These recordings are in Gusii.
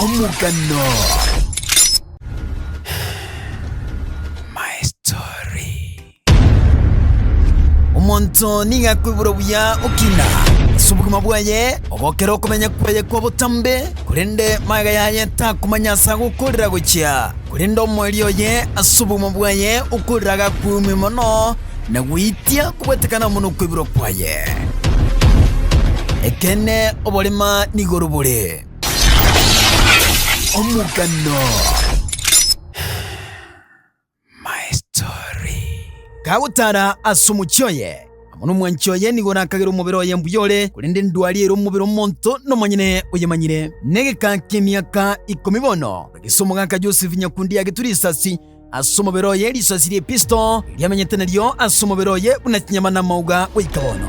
Omogano. omonto niga akoigura buya okina ase obogima bwaye ogokera okomenya kwaye kwa botambe korende maega yaye takomanya ase agokorera gochia korende omori oye ase obogima bwaye okorera agakwumia mono na goitia kobwetekana amo nokoiborwa kwaye. Ekeene oborema nigoro bore. Omogano. My story. Kagotara ase omochie oye, amo nomwanchi oye nigo nakagera omobere oye mbuya ore, korende endwari ere omobere omonto nomonyene oyemanyire. Negekaa kemiaka ikomi bono, egese omogaka Joseph Nyakundi agetwa risasi, Ase omobere oye risasi rie Kristo riamenyete nario ase omobere oye buna chinyama namauga goika bono.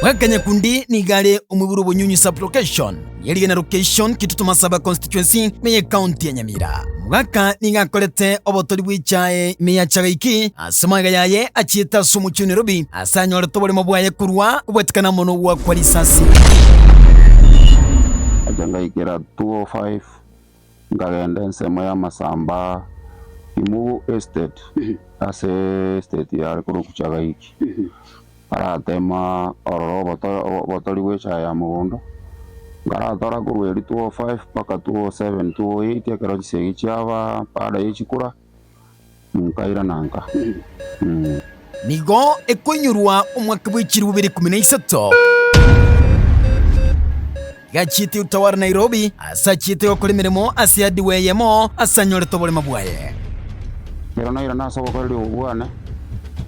Bwakanyakundi nigo are omwiburu obonyunyu sublocation y'erigena location Kitutuma saba constituency ime ye county ya Nyamira. Omogaka nigo akorete obotori bw'echae ime ya Chagaiki ase magega yaye achiete ase omochie o Nairobi ase anyorete oboremo bwaye korwa kobwatikana amo nogwakwa risasi. Achagaikera 205 Nkagenda ensemo y'amasamba aa Imugu Estate ase estate yare korwa Kuchagaiki, aratema ororo obotori bw'echaye ya mogondo, nkaratora korwa erio 2005 mpaka 2007, 2008 ekero chisegi chiaba baada ye chikura. nkaira na nka. Nigo ekoinyorwa omwaka bw'echirube rikumi na isato. Iga achiete otaware Nairobi ase achiete gokora emeremo ase hardware eyemo ase anyorete oborema bwaye. Ekero nairana ase obokoreri obwo bwane,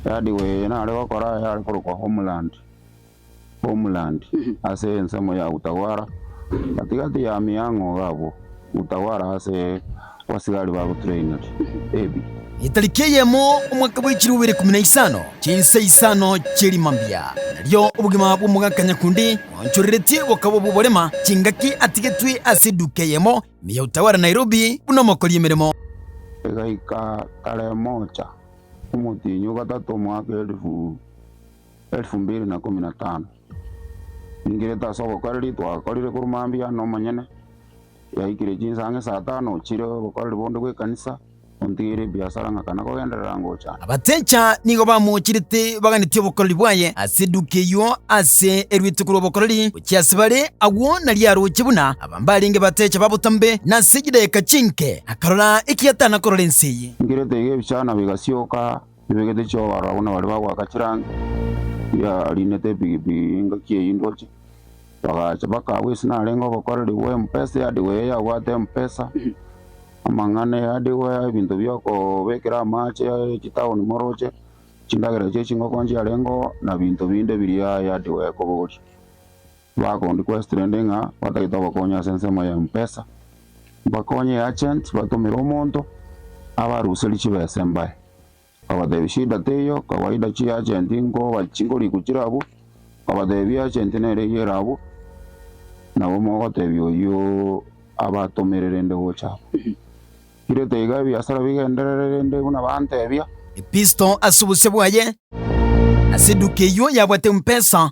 ehardware eye nare gokora yare korokwa Homeland Homeland, ase ensemo ya Utawala, gati-gati ya amiang'o gabwo, Utawala ase abasigari ba Rutrinary, Ebi. Etariki eyemo omwaka bwechiri obere ikomi na isano chinsa isano chie rima mbia, nario obogima bw'omogaka nyakundi oonchoreretie bokaba obw'oborema, chingaki atigetwe ase eduka eyemo ime ya Utawala Nairobi buna omokori emeremo. Egaika tarehe mocha, omotienyi o gatato, omwaka elifu. Elfu mbili na ikomi na tano. Ningerete ase obokoreri twakorire korwa mambia nomonyene, yaikire chinsa ang'e saa tano chire obokoreri bonde bw'ekanisa, ontigeire ebiasara ng'akana kogenderera ngocha. Abatecha nigo bamochirete baganetie obokoreri bwaye ase eduka eyio ase eruete korwa obokoreri gochia ase bare, agwo nario aroche buna abambarenge batecha ba botambe, na ase chidageka chinke akarora ekiatana korora ense eye. Ningerete iga ebichana bigasioka. Ebegete chi'obororo abwo nabaria bagoaka chirangi, riarinete epigipigi engaki eyio indoche, bagacha mpaka agwo ase narenge obokoreri bwa Mpesa, eadegwa eye yabwate Mpesa, amang'ana eadegwa, ebinto bi'okobekera amache chitaoni moroche, chindagera chie chingoko nchiarengeo, na binto binde biria eadegwa ekobogoria. Bagondi quest rende ng'a batagete ogokonya ase ensemo ya mpesa bakonye e agent batomere omonto abaruserie chibesa embaye obatebie shida teiyo kawaida chi agent nkoba chingoriku chire abwo obatebie agent nere eyio ere abwo nabo mogotebia oyio abatomere rende gocha abwo. Kirete iga ebiasara bigenderere rende buna bantebia. Episto ase obosio bwaye ase eduka eyio yabwate mpesa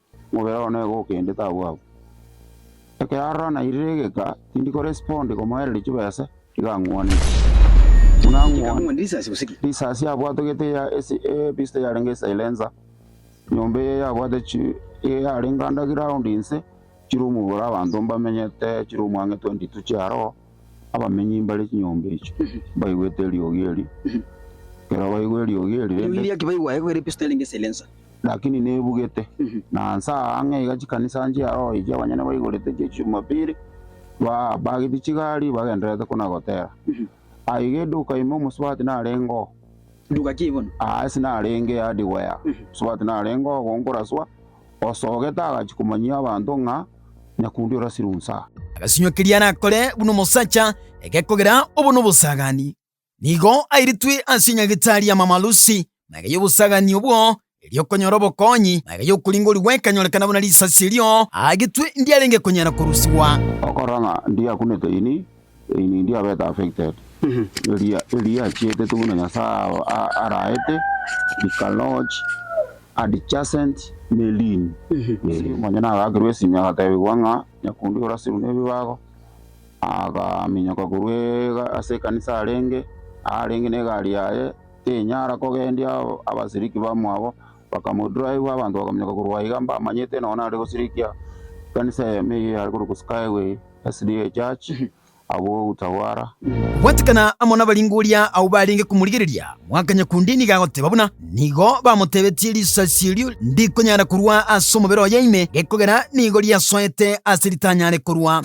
Mobere oo neba okendete abwo abwo. Ekero arora nairire egeka, tindi korespondi komoereria chibesa, iga ang'wanete. Buna ang'wanire risasi abwatogete ya ebista yarenge silencer, nyomba eye yabwate yarenge under ground inse, chiroom bore abanto mbamenyete, chiroom ang'e 22 chiaroo. Abamenyi mbare chinyomba echio mbaigwete eriogi erio, ekero baigwa eriogi erio Eriogi rende, eria ki baigwa aye, kogera episode erenge silencer. lakini nebugete, na nse aa ang'e iga chikanisa nchia oo echio abanyene baigorete chia Chijumapili, bapagetie chigari bagendererete kona gotera. Aye iga eduka ime omosubati narenge oo, Nduga ki bono? Aase narenge hardware, Swat narenge ogonkora swa, osogete agachia komanyia abanto ng'a nyakundi orasirwe nsaa. Agasinywa keria arakore buna omosacha, egekogera obo nobosagani. Nigo airitwe ase enyagetari ya mamalusi, na egeyia obosagani obwo erio okonyora obokonyi, na aya y'okoringorigwa ekanyorekana buna risasi erio agetwe ndiarenge konyara korusigwa. Okora ng'a ndiakunete ini, ini ndiabete affected. Eria eriachetetwe buna Nyasae araete rikalodge adjacent ne limb. Onye nagakerwa esimi agatebigwa ng'a nyakundi orasirwe nebibago, akaminyoka korwa ase ekanisa arenge, arenge negari yaye, Tinyara kogendia abasiriki bamwabo, bakamodura aigwe, abanto bakaminyoka korwa aiga mbamanyete nonya nare gosirikia ekanisa eye meyio yare korokwa Skyway SDA Church agwo Utawala. Gwatikana amo nabaringoria ao barenge komorigereria, mwaka nyakundi nigo agoteba buna nigo bamotebetie, Risasi erio ndikonyara korwa ase omobere oye ime, gekogera nigo riasoete ase ritanyare korwa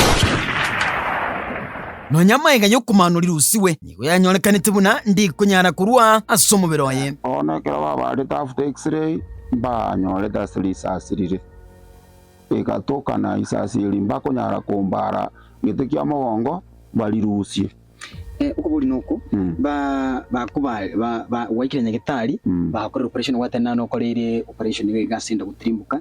nonya amaiga y'okomaano rirusigwe. nigo yanyorekanete buna ndikonyara korwa ase omobere oye. Bono ekero babaarete after X-ray mbanyorete ase risasi rire rigatokana, risasi eri mbakonyara kombaara gete kia mogongo barirusie. Okoborina oko bakobare gwaikire nyagetari bakorera operation gwatana nokoreire operation nigo egasi enda gotirimboka.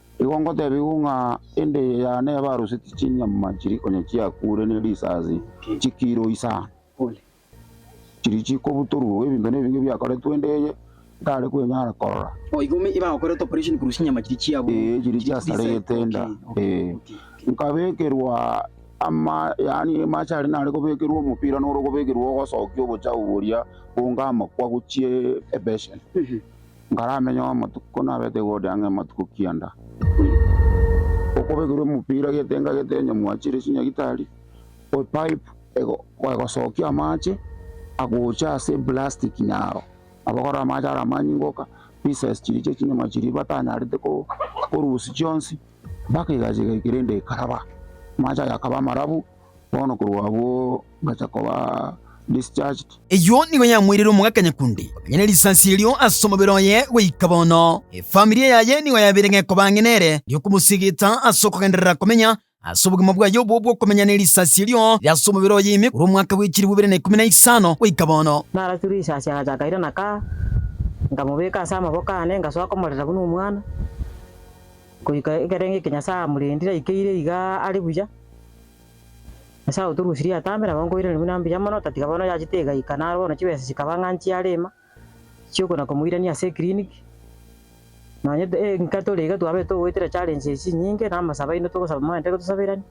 Igo ngotebigwa ng'a endeye yane yabaroseti chinyama chiria konya chiakure ne risasi chikiro isano, chiria chikobutorwa ebinto nebinge biakoretwe endeye ntare kwenyara korora, ee, chiria chiasarete enda, ee. Nkabekerwa ama, yaani amache aria nare kobekerwa omopira nore okobekerwa ogosokia obochafu boria bonga amakwa gochia ebeseni. Nkaramenye omotuko nabete igoro riange amatuko kianda. Okobekirwe omopira getenga getenyo mwachire chinyagitari o pipe egosokia amache agocha ase eplastic nyaro abakora amache are amanyingoka pieces chiria chia chinyama chiria batanyarete korusia chionsi mpaka egasi igaika rende ekaraba. Amache aye akaba amarabu Bono korwa abwo ngacha koba discharged. Eyio nigo yamoirire omogaka nyakundi komenya ne risasi erio ase omobere oye goika bono. Efamiri yaye nigo yabeire ngekoba ang'e nere erio komosigita ase okogenderera komenya ase obogima bwaye obwo bw'okomenya ne risasi erio rire ase omobere oye ime korwa omwaka bw'echilifu ibere na ikomi na isano goika bono. Narasiru risasi agacha akairana kaa, nkamobeka ase amaboko aane ngasoa komorera buna omwana, goika ekero ng'ekia Nyasae amorendire aikeire igaa are buya. Ase agwo torusie riato amo, nabo nkoiraneria buna mbuya mono, otatiga bono oyachete egaika. Naro bono chibesa chikaba ng'a nchiare ime, chi'okona komoirania ase eclinic. Nonya enka tore iga twabete ogoetera challenge echi chinyinge, na amasabo aino togosaba mwanyaete gotosaberani.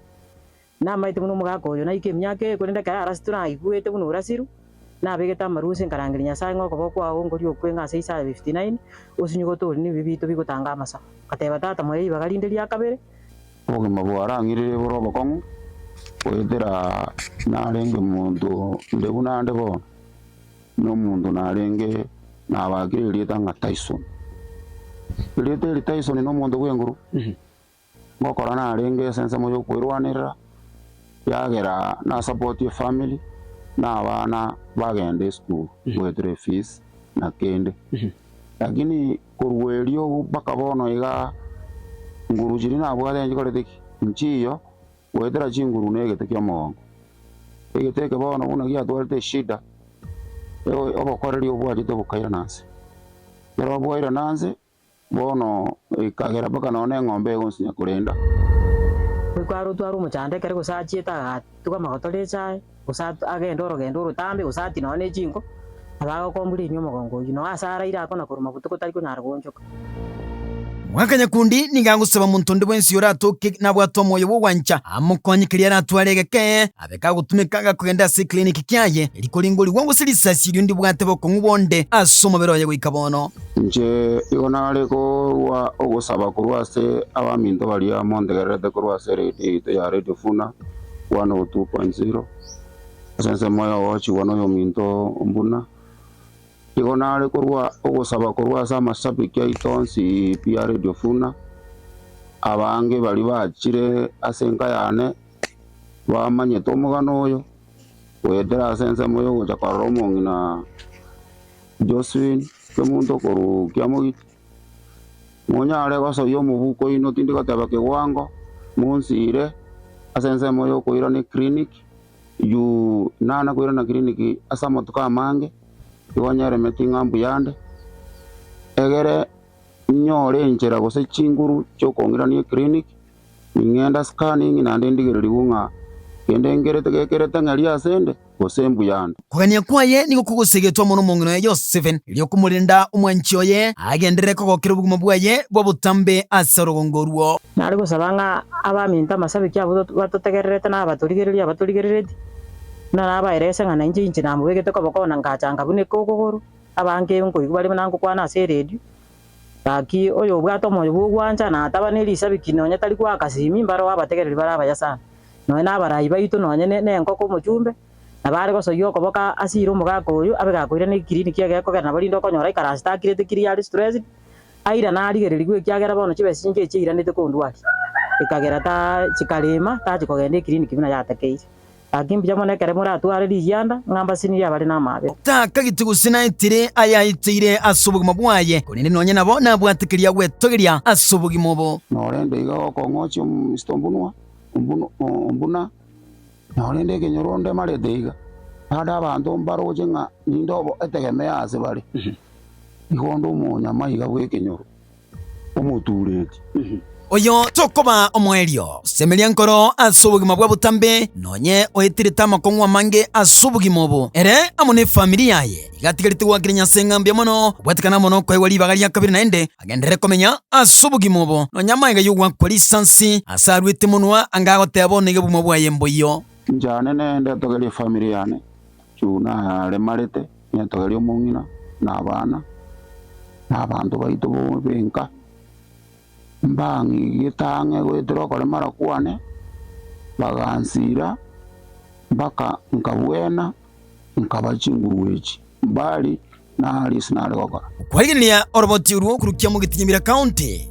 Namaete buna omogaka oyo naika emiaka eye, korende ekero arasitwe naigwete buna orasirwe, nabegete amarwa ase nkarangeria Nyasae ng'a okoba okwao ngoria okwe ng'a ase Isaya fifty nine, osinyogote ore nebibe biaito bigotanga amasabo. Ngateba, Tata, moyo ribaga rinde riakabere. Obogima bwao arang'irere bore obokong'u, goetera narenge monto onde buna ande bono, na omonto narenge nabakire erieta ng'a Tyson. Erieta eri Tyson na omonto bw'enguru, ngokora narenge ase ensemo ya okoerwanerera, yagera na support ye family, na abana bagenda esukuru goetera efees na kende. Lakini. Korwa erio mpaka bono iga nguru chiria nabwate nchikorete ki? Nchiiyo, goetera chinguru negete ki'omogongo. Egete eke bono buna giatwarete eshida, obokoreri obwachete bokairana inse. Ekero bwairana inse, bono ekagera mpaka nonya ne eng'ombe igo nsinya korenda. Goika arotwe are omochando ekere gose achiete agatuga amagoto r'echae. gose agende orogendo orotambe, gose ati nonya ne chinko, abe agokombu riria omogongo oyio, na ase araire akona korwa mabuta gotari konyara goonchoka. Mwaka nyakundi nigo agosaba omonto onde bwensi oyo oratoke nabwate omoyo bw'ogwancha amokonye keria aratware egeke, abe kagotumeka agakogenda ase ekiliniki kiaye, eri koringorigwa gose risasi erio ndibwate bokong'u bonde ase omobere oye goika bono. Inche igo nare kogwa ogosaba korwa ase abaminto baria montegererete korwa ase eredio yaito ya Radio Funa. Kwana ogotugwa kwa ensiro ase ensemo eye ogochigwa noyominto oo buna igo nare korwa ogosaba korwa ase amashabiki aito onsi pi a Radio Funa. Abange baria bachire ase enka yane bamanyete omogano oyo goetera ase ensemo yogocha korora omong'ina Josephine Kemunto korwa Kiamogiti. Monyare gosoyia omobuko oino tindi goteba kewango monsiire ase ensemo ya okoirana eclinic juu nana koirana clinic ase amatuko amange nigo nyeremeti ng'a mbuya nde egere nyore enchera gose chinguru chiokong'irani eclinic Ning'ende ase Canning naende ndigererigwe ng'a kende nkerete gekerete ng'eria ase 'nde, gose embu yande. Kogania kwaye nigo kogosegetwe amo nomong'ina oye Yosefe, erio okomorenda omwanchi oye agenderere kogokera obogima bwaye bwa botambe ase orogongo oruo. Nare gosaba ng'a abaminto amasabiki abo batotegererete na abatorigereria abatorigerereti, buna nabaerese ng'a nainche inche namobegete koboko na ngachanga buna ekogogoro, abange nkoigwa bare buna ngokwana ase eredio, Gaki oyobwate omoyo bw'ogwancha na ataba ne risabiki nonya tari goaka simi, mbareo abategereri bare abayasani. Nonya nabarai baito nonya nenkoko omochumbe, na bare gosoyia okoboka ase ire omogaka oyio abe gakoirana ekikiriniki egekogera nabo rinde okonyora ekarasi takirete kiri are stressed, airana arigererigwe ekiagera bono chibesa chinke echi eiranete kondwaria, ekagera ta chikarema tachi kogenda ekiriniki buna yatakeire. Gaki mbuya mono ekero moratware rigianda ng'a mbasinirie abare n'amaabe. Takagete gose naetire ayaeteire ase obogima bwaye, korende nonye nabo nabwate keria gwetogeria ase obogima obo. Norende iga gokong'ochia omominista ombunwa ombuna, norende ekenyoro ondemarete iga, ande abanto mbaroche ng'a ninde obo etegemeo ase bare, igo onde omonyamaiga bw'ekenyoro. omotuureti. Oyo tokobaa omoerio, semeria nkoro ase obogima bwa botambe, nonye oetirete amakong'u amange ase obogima obo, ere amo n'efamiri yaye, igatigarete goakera Nyasae ng'a mbuya mono, obwatekana amo nokoegwa ribaga ria kabere naende, agenderere komenya ase obogima obo, nonya amaiga y'ogoakwa risansi, ase aruete monwa anga agoteeba bono egebumwa bwaye mboiyo. Inche aane nende togerie efamiri yane, Juna ayaremarete. Netoe ri'omong'ina, na abana, na abanto baito b'enka, mbang'igete ang'e goetera okoremara kwane, bagansiira, mpaka nkabwena, nkaba chingurugwechi. Mbali, nari ase nare gokora. Kwariginia oroboti orwo korukia Mogitinyimira County.